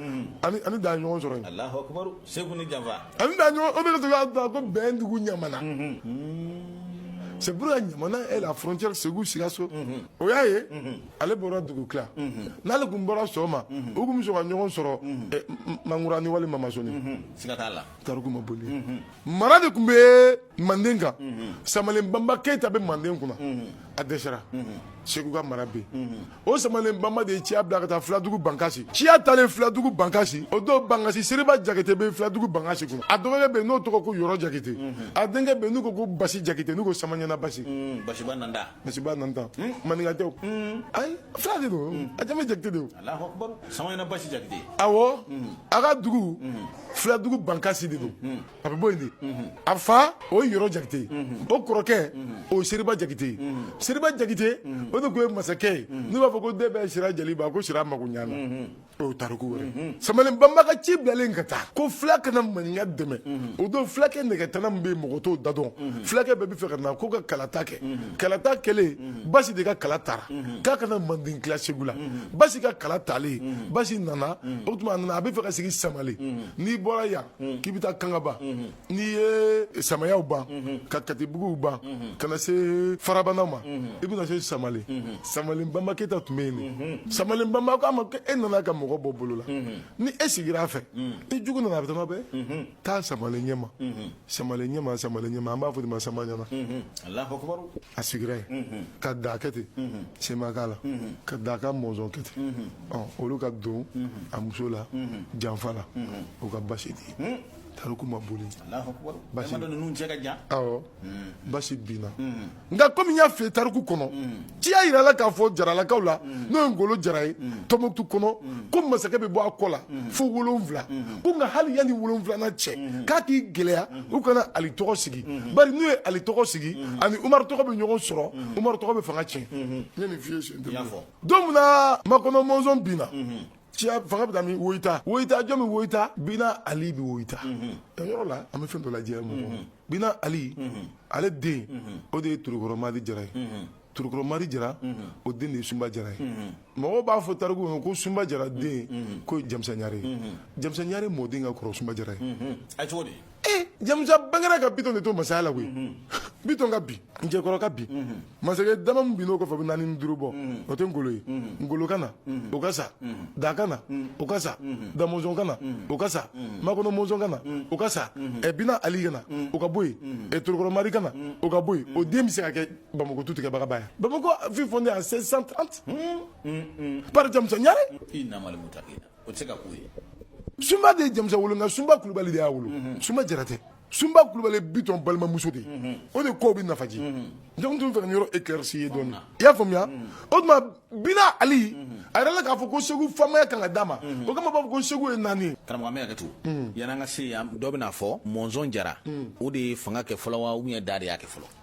ani ani da ɲɔgɔn sɔrɔ yen Alahu akibaru segu ni janfa ani da ɲɔgɔn o de tun y'a da ko bɛndugu ɲamana c'est pour la ɲamana est la frontière segu sikaso o y'a ye ale bɔra dugutila n'ale tun bɔra sɔgɔma u tun bɛ sɔn ka ɲɔgɔn sɔrɔ eh, M- mangurani walima masoni siga t'a la tariku ma boli mara de tun bɛ manden kan samalen banba keyita bɛ manden kunna a dɛsɛra segu ka mara bɛ yen o samalen banba de ye ciya bila ka taa filadugu bankasi ciya taalen filadugu bankasi o don bankasi seriba jakite bɛ filadugu bankasi kunna a dɔgɔkɛ bɛ yen n'o tɔgɔ ko yɔrɔ jakite a denkɛ bɛ yen n'u ko ko basi jakite n'u ko samaɲana basi basi maninka tɛ ayi fula de don a jamu jakite de a ka dugu filadugu bankasi de don a bɛ bɔ yen de a fa o ye yɔrɔ jakite ye o kɔrɔkɛ o ye seriba jakite ye seriba jakite o de tun ye masakɛ ye n'u b'a fɔ ko den bɛɛ sira jaliba ko sira mago ɲana o ye tariku wɛrɛ samalen banba ka ci bilalen ka taa ko fila ka na maninka dɛmɛ o don fulakɛ nɛgɛtana min bɛ yen mɔgɔ t'o da dɔn fulakɛ bɛɛ bɛ fɛ ka na k'u ka kalata kɛ kalata kɛlen basi de ka kala tara k'a ka na manden tila segu la basi ka kala talen basi nana o tuma a nana a bɛ fɛ ka sigi samale n'i bɔra yan k'i bɛ taa kangaba n'i ye samayaw ban ka katibuguw ban ka na se farabana ma i bɛna se samale samalen bamba keyita tun bɛ yen de samalen bamba ko a ma ko e nana ka mɔgɔ bɔ bolo la ni e sigira a fɛ ni jugu nana a bɛ tɛmɛ bɛɛ taa samalen ɲɛma samalen ɲɛma samalen ɲɛma an b'a fɔ o de ma samaɲana a sigira yen ka da kɛ ten sema k'a la ka da ka mɔnzɔn kɛ ten olu ka don a muso la janfa la o ka basi di tariku ma boli basi binna nka kɔmi n y'a f'i ye tariku kɔnɔ ciya yirala k'a fɔ jaralakaw la n'o ye ngolo jara ye tɔnbukutu kɔnɔ ko masakɛ bɛ bɔ a kɔ la fo wolonwula ko nka hali yanni wolonwulanan cɛ k'a k'i gɛlɛya u kana ali tɔgɔ sigi bari n'u ye ali tɔgɔ sigi ani umaru tɔgɔ bɛ ɲɔgɔn sɔrɔ umaru tɔgɔ bɛ fanga tiɲɛ n ye nin f'i ye siɲɛ tɛmɛnen don min na makɔnɔ mɔnzɔn binna ciyɛn fanga bɛ taa min woyita woyita jɔn bɛ woyita bina ali bɛ woyita yɔrɔ la an bɛ fɛn dɔ lajɛ mɔgɔ bina ali ale den o de ye turukɔrɔ mari jara ye turukɔrɔ mari jara o den de ye sunba jara ye mɔgɔw b'a fɔ tariku kɔnɔ ko sunba jara denkɛ ye jamusa ɲare ye jamusa ɲare mɔden ka kɔrɔ sunba jara ye a cogo di ee jamusa bangera ka bitɔn de to masaya la koyi mhm. bitɔn ka bi njɛkɔrɔ ka bi mhm. masakɛ dama min bin'o kɔfɛ bɛ naani ni duuru bɔ mhm. o tɛ ngolo ye ngolo ka na o ka sa da ka na o ka sa da mɔnzɔn ka na o ka sa makɔnɔ mɔnzɔn ka na o ka sa ɛ bina ali ka na o ka bɔ yen ɛ torokɔrɔ mari ka na o ka bɔ yen o den bɛ se ka kɛ bamakɔ tu tigɛbaga ba ye bamakɔ fut fondé en 1630 par jamusa ɲare o tɛ se ka k'o ye sunba de ye jamusa wolo nka sunba kulubali de y'a wolo mhm. sunba jara tɛ sunba kulubali bitɔn balimamuso de mhm. o de ko bɛ nafaji donc n tun b'a fɛ ka yɔrɔ éclairci dɔɔni i y'a faamuya mhm. o tuma bina ali a yɛrɛ la k'a fɔ ko segu faamaya kan ka d'a ma o kama b'a fɔ ko segu ye naani ye karamɔgɔ n bɛ hakɛto yan'an ka se yan dɔ bɛna fɔ mɔnzɔn jara o de ye fanga kɛ fɔlɔ wa ou bien da de y'a kɛ fɔlɔ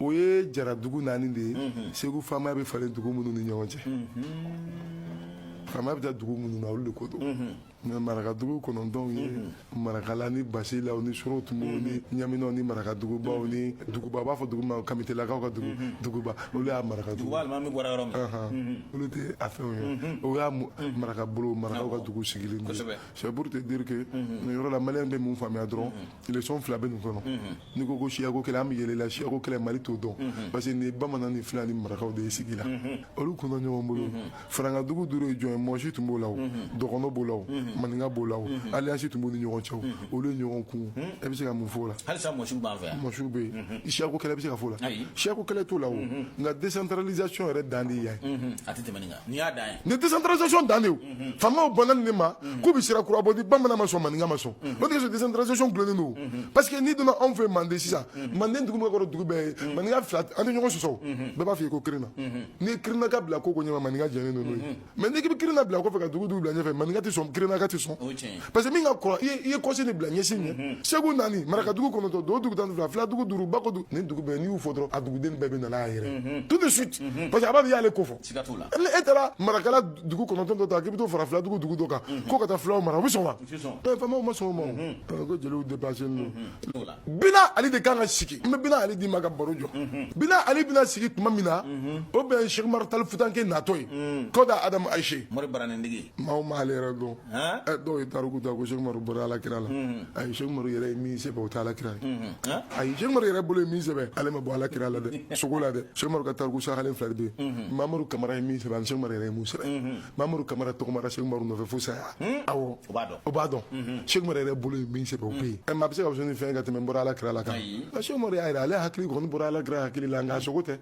o ye jara dugu naani de ye mhm. segu faamaya bɛ falen dugu minnu ni ɲɔgɔn cɛ mhm. faamaya bɛ taa dugu minnu na olu de ko don mhm. nka marakadugu kɔnɔntɔnw ye marakala ni basilaw ni sorotomo ni ɲaminaw ni marakadugubaw ni duguba u b'a fɔ dugu ma kamitelakaw ka dugu duguba olu y'a marakadugu olu tɛ a fɛnw ye o y'a marakabolo marakaw ka dugu sigilen don c'est pour te dire que nin yɔrɔ la maliyɛn bɛ mun faamuya dɔrɔn leçon fila bɛ nin kɔnɔ n'i ko ko siyako kɛlɛ an bɛ yɛlɛ la siyako kɛlɛ mali t'o dɔn parce que nin bamanan ni fila ni marakaw de ye sigi la olu kun dɔ ɲɔgɔn bolo farankadugu duuru ye jɔn ye mɔsi tun b'o la o dɔgɔnɔ b'o la o maninka b'o la o alliance tun b'u ni ɲɔgɔn cɛ o olu ye ɲɔgɔn kun e bɛ se ka mun fɔ o la halisa mɔsiw b'an fɛ yan mɔsiw bɛ yen siyako kɛlɛ bɛ se ka fɔ o la siyako kɛlɛ t'o la o nka décentralisation yɛrɛ dan de ye yan ye a tɛ tɛmɛ nin kan N'i y'a dan ye nin décentralisation dan de faamaw banna nin ma k'u bɛ sira kura bɔ di bamanan ma sɔn maninka ma sɔn o de kosɔn décentralisation dulonnen don parce que n'i donna anw fɛ manden sisan manden dugu min kɔrɔ dugu bɛɛ ye maninka fila tɛ ɲɔgɔn sɔsɔ bɛɛ b'a fɔ i ko kirinna n'i ye kirinna ka bila ko ko ɲɛ maninka jɛnnen don n'o ye mais n'i bɛ kirinna bila kɔfɛ ka dugu dugu bila ɲɛfɛ maninka tɛ sɔn kirinna ka tɛ sɔn parce que min ka kɔrɔ i ye kɔsen de bila ɲɛsen ɲɛ segu naani maraka dugu kɔnɔntɔn dodugu tan fila fila dugu duuru ba don nin dugu bɛɛ n'i y'u fɔ dɔrɔn a duguden bɛɛ bɛ na n'a yɛrɛ tout de suite parce que a b'a fɔ i y'ale ko fɔ siga t'o la e taara marakala dugu kɔnɔntɔn dɔ ta k'i bɛ t'o fara fila dugu dugu dɔ kan ko ka taa fulaw mara u bɛ sɔn wa faamaw ma sɔn o ma o ko jeliw dépassé don bina ali de kan ka sigi n bɛ bina ali d'i ma ka baro jɔ bina ali bɛna sigi tuma min na o bɛn Cheikh Umaru Tali Futanke natɔ ye kɔda Adamu Ayise mori baranintigi maaw m'ale yɛrɛ dɔn dɔw ye tariku ta ko sɛkumaru bɔra ala kira la ayi sɛkumaru yɛrɛ ye min sɛbɛn o tɛ ala kira ye ayi sɛkumaru yɛrɛ bolo ye min sɛbɛn ale ma bɔ ala kira la dɛ sogo la dɛ sɛkumaru ka tariku sahalen fila de bɛ yen mamadu kamara ye min sɛbɛn ani sɛkumaru yɛrɛ ye min sɛbɛn mamadu kamara tagamara sɛkumaru nɔfɛ fo saya awɔ o b'a dɔn sɛkumaru yɛrɛ bolo ye min sɛbɛn o bɛ yen ɛ maa bɛ se ka fɛn ni fɛn ka tɛmɛ n bɔra ala kira la kan sɛkumaru y'a yira ale hakili kɔni bɔra ala kira hakili la nka sogo tɛ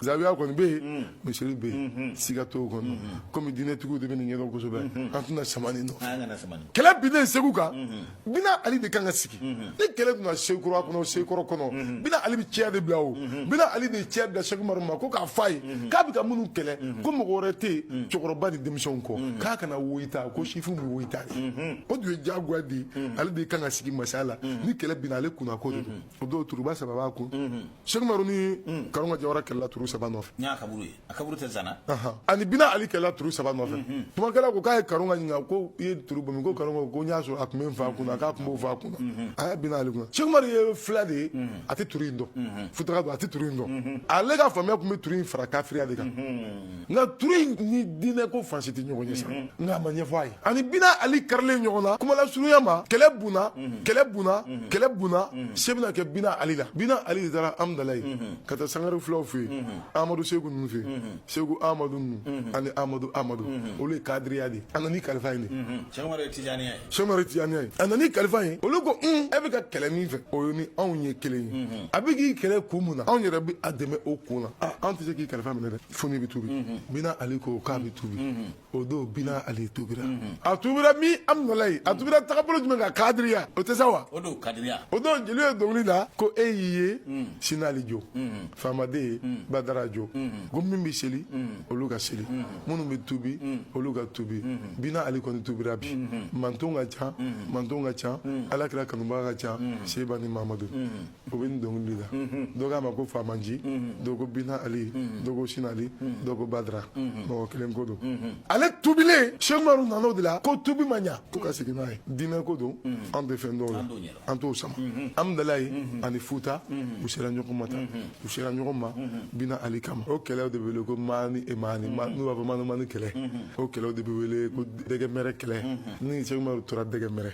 Zawiya kɔni bɛ yen misiri bɛ yen siga t'o kɔnɔ kɔmi diinɛtigiw de bɛ nin ɲɛdɔn kosɛbɛ an tɛna sama kɛlɛ binna segu kan bina ali de kan ka sigi ni kɛlɛ binna sekura kɔnɔ sekɔrɔ kɔnɔ bina ali ci de bila o bina ali de ci bila sekumaru ma ko k'a fɔ a ye k'a bɛ ka minnu kɛlɛ ko mɔgɔ wɛrɛ tɛ yen cɛkɔrɔba ni denmisɛnw kɔ k'a kana woyita ko sifin bɛ woyita o dun ye jagoya de ale de kan ka sigi masaya la ni kɛlɛ binna ale kun ko o don turuba saba b'a kun Sekumar ni karonga jawara kɛlɛla tuuru saba nɔfɛ ani bina ali kɛlɛla tuuru saba nɔfɛ tumakɛla ko k'a ye karonga ɲininka ko i ye tuuru bɔ min ko karonga ko n y'a sɔrɔ a tun bɛ n fa kun k'a tun b'o fa kun a ye bina ali kun sɛkumaru ye fila de ye a tɛ tuuru in dɔn futaka don a tɛ tuuru in dɔn ale ka faamuya tun bɛ tuuru in fara kafiriya de kan nka turu in ni diinɛ ko fansi tɛ ɲɔgɔn ye sa mhm. nka a ma ɲɛfɔ a ye ani bina ali karilen ɲɔgɔn na kumala surunya ma kɛlɛ bunna mhm. kɛlɛ bunna mhm. kɛlɛ bunna se bɛna kɛ bina ali la bina ali de taara amudalayi ka taa sangare fulaw fɛ yen amadu segu ninnu fɛ yen segu amadu ninnu ani amadu amadu olu ye kadiriya de a nana ni kalifa ye de sɛkumaru ye tijaniya ye a nana ni kalifa ye olu ko un e bɛ ka kɛlɛ min fɛ o ye ni anw ye kelen ye a bɛ k'i kɛlɛ kun mun na anw yɛrɛ bɛ a dɛmɛ o kun na aa anw tɛ se k'i kalifa minɛ dɛ fo n'i bɛ tubi bina ali ko k'a bɛ tubi o don bina ali tubira a tubira min amudalayi a tubira tagabolo jumɛn kan kadiriya o tɛ sa wa o don kadiriya o don jeliw ye dɔnkili la ko e y'i ye sinali jo faamaden badara jo ko min bɛ seli olu ka seli minnu bɛ tubi olu ka tubi bina ali kɔni tubira bi mantɔn ka ca mantɔn ka ca ala kira kanubaga ka ca seba ni mamadu o bɛ nin dɔnkili la dɔ k'a ma ko faamaji dɔ ko bina ali dɔ ko sinali dɔ ko badara mɔgɔ kelen ko don ale tubilen sɛkumaru nana o de la ko tubi ma ɲa ko ka segin n'a ye diinɛ ko don an tɛ fɛn dɔn o la an t'o sama amidalayi ani futa u sera ɲɔgɔn ma tan u sera ɲɔgɔn ma bina ali kama o kɛlɛw de bɛ wele ko maani e maani n'u b'a fɔ maani maani kɛlɛ o kɛlɛw de bɛ wele ko dɛgɛmɛrɛ kɛlɛ ni sɛku maru tora dɛgɛmɛrɛ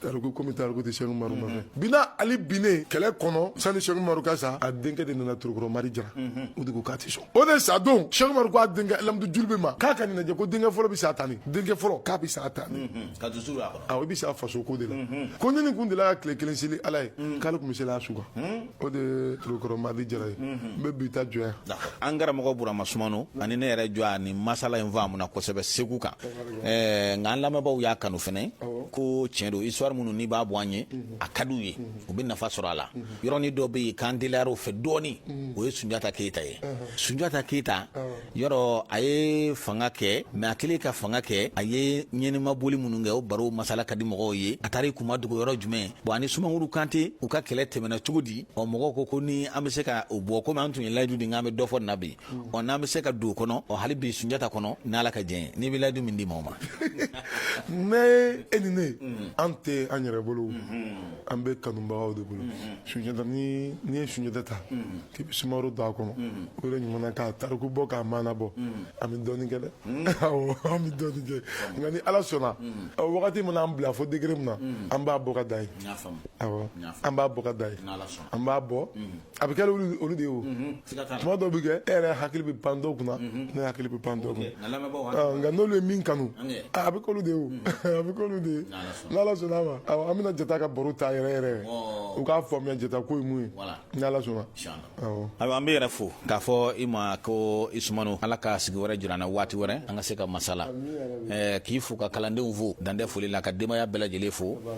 tariku komi tariku tɛ sɛku maru ma fɛ bina ali binnen kɛlɛ kɔnɔ sani sɛku maru ka sa a denkɛ de nana torokɔrɔ mari jara o de ko k'a tɛ sɔn o de sa don sɛku maru ko a denkɛ lamudu julube ma k'a ka nin lajɛ ko denkɛ fɔlɔ bɛ sa tani denkɛ fɔlɔ k'a bɛ sa tani ko dusu b'a kɔnɔ awɔ i bɛ sa faso ko de la ko ni nin kun delila ka tile kelen seli ala ye k'ale tun bɛ seli a su kan o de ye torokɔrɔ mari jara ye n bɛ bi ta jɔ yan an karamɔgɔ burama sumano ani ne yɛrɛ jɔ a ni masala in faamuna kosɛbɛ segu kan eh, nka an lamɛnbaaw y'a kanu fɛnɛ ko tiɲɛ don histoire minnu n'i b'a bɔ an ye a ka d'u ye u bɛ nafa sɔrɔ a la yɔrɔnin dɔ bɛ yen k'an teliyar'o fɛ dɔɔnin o ye sunjata keyita ye sunjata keyita yɔrɔ a ye fanga kɛ mais a kɛlen ka fanga kɛ a ye ɲɛnɛma boli minnu kɛ o baro masala ka di mɔgɔw ye a taara i kun madogo yɔrɔ jumɛn bon ani sumaworo kante u ka kɛlɛ tɛmɛna cogo di ɔ mɔgɔw ko ko ni an bɛ se ka o bɔ komi an tun ye layidu di k'an bɛ dɔ fɔ nin na bi ɔ n'an bɛ se ka don o kɔnɔ ɔ hali bi sunjata kɔnɔ n'ala ka jɛn n'i bɛ layidu min di maaw ma mais e ni ne an tɛ an yɛrɛ bolo an bɛ kanubagaw de bolo sunjata ni n'i ye sunjata ta k'i bɛ sumaworo don a kɔnɔ o de ɲuman k'a tariku bɔ k'a maana bɔ an bɛ dɔɔnin kɛ dɛ awɔ an bɛ dɔɔnin kɛ nka ni ala sɔnna ɔ, waati mana an bila fo degré min na an b'a bɔ ka da yen N y'a faamu. awɔ N y'a faamu. an b'a bɔ ka da yen N'Ala sɔnna. an b'a bɔ a bɛ kɛ olu de ye o tuma dɔw bɛ kɛ e yɛrɛ hakili bɛ pan dɔw kunna ne hakili bɛ pan dɔw kunna nka n'olu ye min kanu a bɛ k'olu de ye a bɛ k'olu de ye n'ala sɔnna a ma an bɛna jata ka baro ta yɛrɛ yɛrɛ u k'a faamuya jata ko ye mun ye n'ala sɔnna ayiwa an b'e yɛrɛ fo k'a fɔ i ma ko i sumano ala ka sigi wɛrɛ jira an na waati wɛrɛ an ka se ka masala k'i fo ka kalandenw fo dan tɛ foli la ka denbaya bɛɛ lajɛlen fo